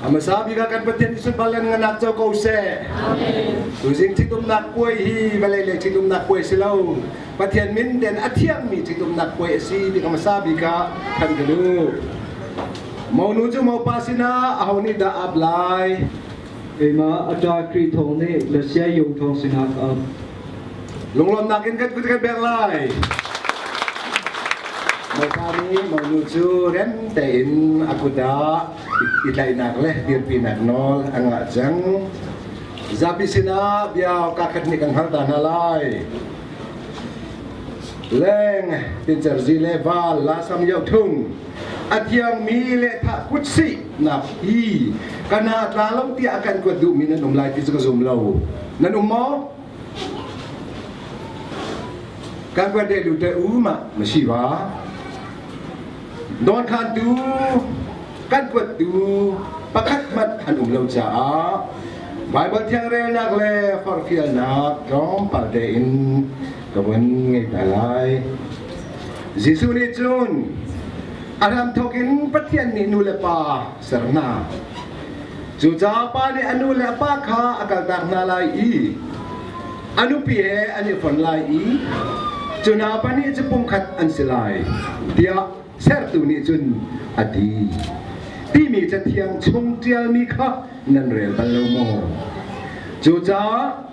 Amasa bika kan pathian Jesuh balan nganak co ko se. Tuzing ṭhitumnak puai hi vale le ṭhitumnak puai si lo. Pathian min den a thiangmi ṭhitumnak puai si ti Amasa bika kan ka du. Monu cu mopa sinah aho nih dah ap lai? Keimah a ṭa Kri thawng nih na sia yung thawng sinah ap. Lunglawmnak in kan kut kan beng lai. Maupa nih monu cu rem tein a kut ah i tlaihnak le dirpinak nawl an ngah cang. Zapi sinah bia kakhat nih kan hngalta hna lai. Leng, Tincer Zi le Val La Sam Yo Thung a thiangmi lehthah kut sihnak hi kan ha tla lo tiah a kan kuat duhmi nan um lai ti cu ka zum lo nan um maw kan kuat de lu te u ma ma si wa don khan tu kan kuat tu pakhat mat han um lo caah Bible thiangrelnak le forfialnak tlawmpal te in ka von ngeih hna lai Jesuh nih cun a hram thawk in Pathian nih nu le pa ser hna cucaah pa nih a nu le a pa kha a kaltak hna lai i a nupi he an i fon lai i cu hna pahnih cu pumkhat an si lai tiah sertu nih cun a ti timi cathiang chung ṭialmi kha nan rel bal lo maw cucaah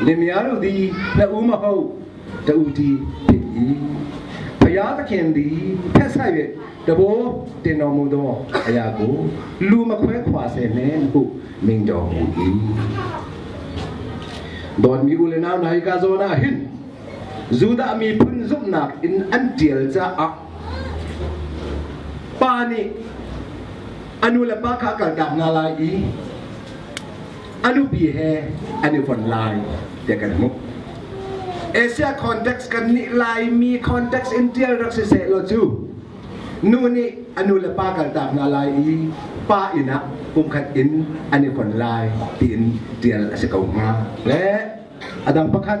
Limial di na um ho ta u di pin i phaya ta khen di phe sai ve tabo te no mu do aya ku lu ma khwe khwa se men ku ming do mu di don mi u le nam lai ka zo na hin judah mi phun zumnak in an tial caah pa nih anu le pa kha kaltak na lai i a nupi he an i von lai tiah kan hmuh Asia context kan nih Laimi context in tial rak si seh law cu nu nih a nu le pa kal tak hna lai i pa inn ah pumkhat in an i kon lai tiin tial a si ko hnga le a dang pakhat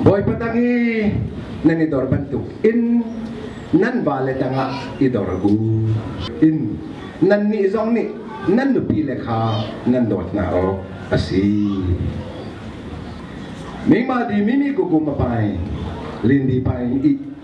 Bawipa tang i nan i dor bantuk in nan vale tangah i dor u. In nannih zong nih nan nupile kha nan dawt hna awk a si. Mingma di mimi kukum apai, lindi pai i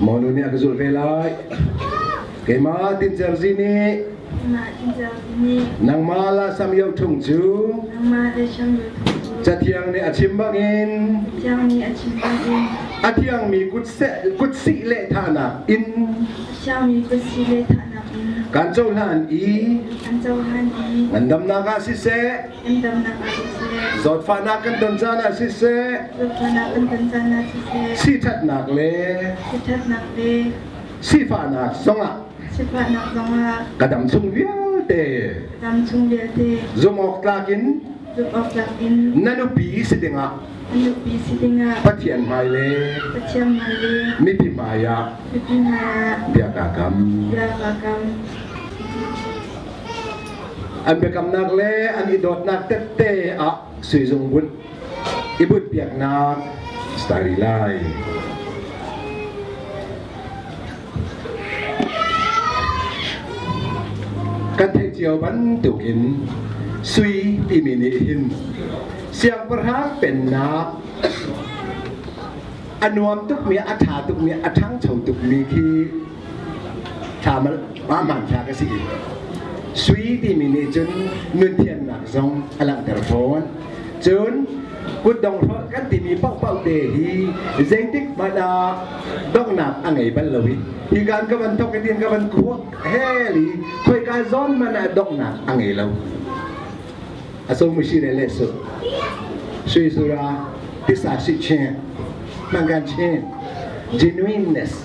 Monu nih a ka zulh ve lai. Keimah Tin Cer Zi nih nangmah la sam yo thung cu cathiang nih a chim bangin a thiangmi kut sih lehthanak in kan cohlan i ngandamnak ah siseh Zawtfahnak kan ton caan ah siseh, siṭhatnak le sifahnak zongah ka dam chung vialte zumawktlak in na nupi si dingah Pathian hmai le mipi hmai ah bia ka kam. An biakamnak le an i dawtnak tette ah suizung bunh i bunh piaknak stari lai. Kan theih cio bantuk in sui timi nih hin siangpahrang pennak a nuam tukmi a ṭha tukmi a ṭhangcho tukmi khi hmanthlak a si i sui timi nih cun nunthiamnak zong a langhter fawn cun kutdong hrolh kan timi paohpaoh te hi zeitik hmanh ah donghnak a ngei bal lo i hi kan ka van thok hitin ka van kuak hel i khoika zawn hmanh ah donghnak a ngei lo a so mu si le le su sui sura tisa si chen mangan chen genuineness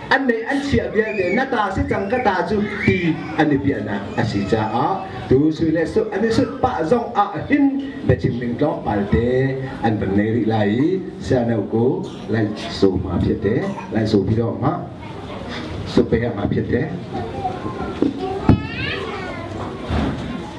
an mei an chiah vialte na ta si cang ka ta cu ti an i piahnak a si caah tu sui le sut an i sut pah zong ah hin biachim ning tlawmpal te an van ngei rih lai i siano ko lai so ma phiat te lai so pi dong ma so pe ma phiat te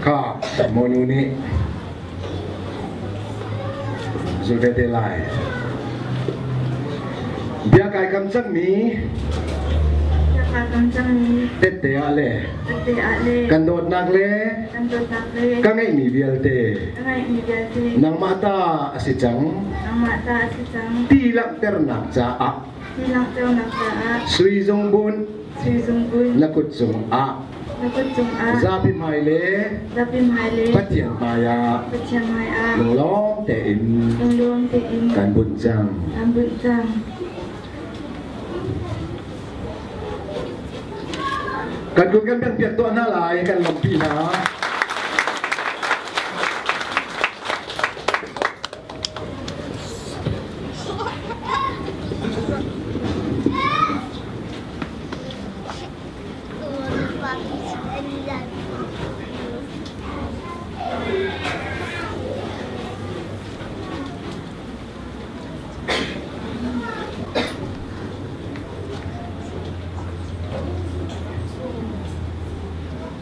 Ka monu nih Zeitete lai. Bia kai kam cangmi tette ah le kan dawtnak le ka ngeihmi vialte nangmah ta a si cang ti langhternak caah Sui zung bun na kut cung ah zapi hmai le Pathian hmai ah lunglawm tein kan bunh cang. Kan kun kan piak tuah hna lai kan lampi hna.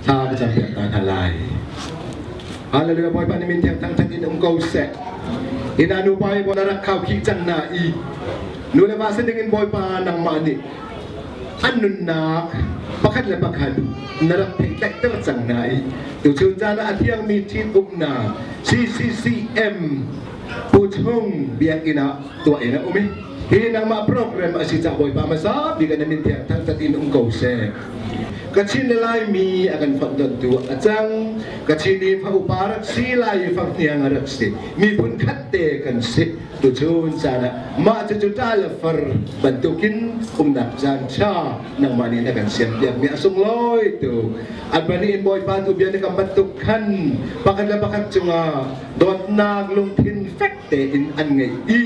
Thla ka cam piak ta hna lai. Hallelujah Bawipa ni min thiang thang thang in um ko seh. Ina nu pa i bona rak khao khi cang na i. Nu le va sin ding in Bawipa nangmah nih an nunnak pakhat le pakhat na rak theitlaihter cang hna i tuchun caan ah a thiangmi ṭhin uknak CCCM Puchung biakinn ah tuah in a um i hi nangmah program a si cah Bawipa hmasa bik na min thiang thang tat in um ko seh Kachin na Laimi a kan fonhtontu a cang Kachin i fa upa rak si lai i fak hniang a rak si miphun khat te kan si Cucu caan ah mah cucu ṭah le far bantukin umnak caan ṭha nangmah nih na kan siam piakmi a sung lawi tu Albani in Bawipa tu bia na kan bantuk khan pakhat le pakhat cungah dawtnak lungthin fek tein an ngei i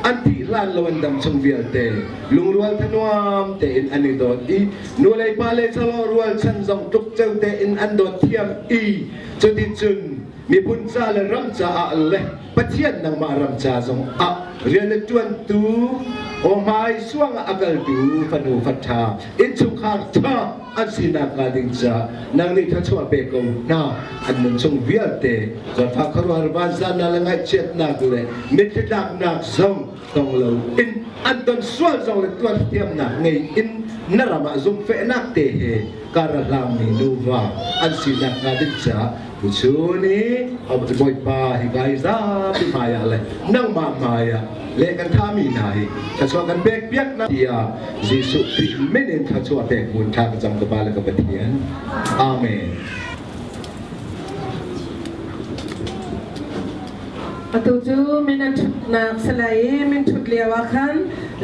an tih hlan lo an dam chung vialte lungrual thanuam tein an i dawt i nu le pa le salo rualchan zong tluk ceu tein an dawt thiam i cuti cun miphun ca le ram caah le Pathian nangmah ram ca zong ah rian a ṭuantu ohmai suang a kaltu fanu faṭha innchungkhar ṭha an sinak hnga ding caah nang nih thluachuah pe ko hna an nunchung vialte zawtfak khuaruahar vanzannak le ngaihchiatnak le mitthli tlaknak zong tong lo in an ton sual zong le tuan thiamnak ngei in na ram ah zumhfehnak te he karahlang mi nuva an sinak hnga ding caah tu cu ni Abuti Bawipa hi kai zapi hmai ah le nangmah hmai ah le kan tha mi hna hi thachua kan pek piak na tia Jesuh ti min in thachua pek hun tha ka cham ka ba le ka pathian amen Atu cu minung ṭhutnak si lai i min ṭhut lio ah khan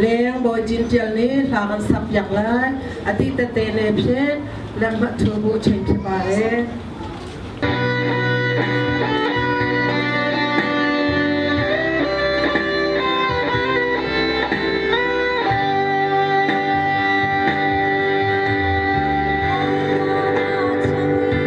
leng bawi Jin Ṭial nih hla kan sak piak lai a ti tete ne phet lengmah ṭhu bu ṭhen phi pa e.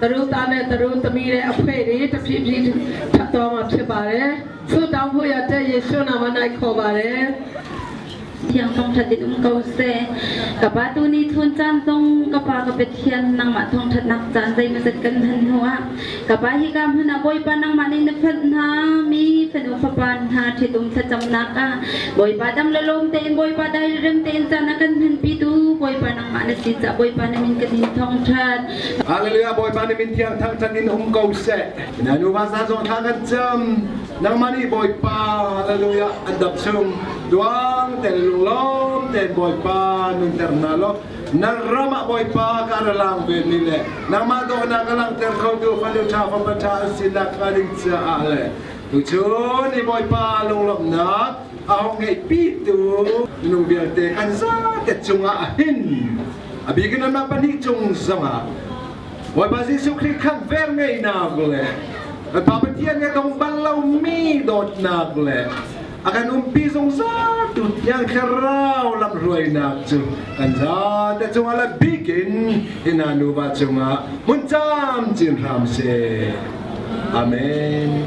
taru ta le taru tami le a phuai ri taphi phi tawng a phi ba le thu tawng hu ya te Jesu naam an ai kho ba le tiang kam that in um ko se ka pa tu ni thun chan tong ka pa ka pethian nang ma thong that nak chan dai ma zat kan han huwa ka pa hi ka mun a boi pa nang ma ni na phat na mi fanu fapan na ṭhitum thlacham nak a boi pa dam lom te in boi pa dai rem te in chan a kan han pi tu boi pa nang ma na si cha boi pa na min ka din thong that Hallelujah Bawipa nih min thiang thangṭhat in um ko seh. Na nuva sa zong thla kan cam. Nangmah nih Bawipa hallelujah an dam chung duang ten lunglawm ten Bawipa nunter hna law na ram ah Bawipa ka ra lang ve ni le nangmah dawhnak ka langter kho tu fanu ṭha fapa ṭha an si nak ka ding caah le tu chun i Bawipa lunglawmhnak a hong ngeih pi tu minung vialte kan zate cungah hin Abik in anmah pahnih cung zongah Bawipa Jesuh Khrih khan ver ngeinak le Bawipa Pathian he tong bal lomi dawtnak le a kan umpi zungzal tu tiang thlarau lamhruainak cu kan zate cungah le bik in ina nuva cungah mun cam cin hram se. Amen.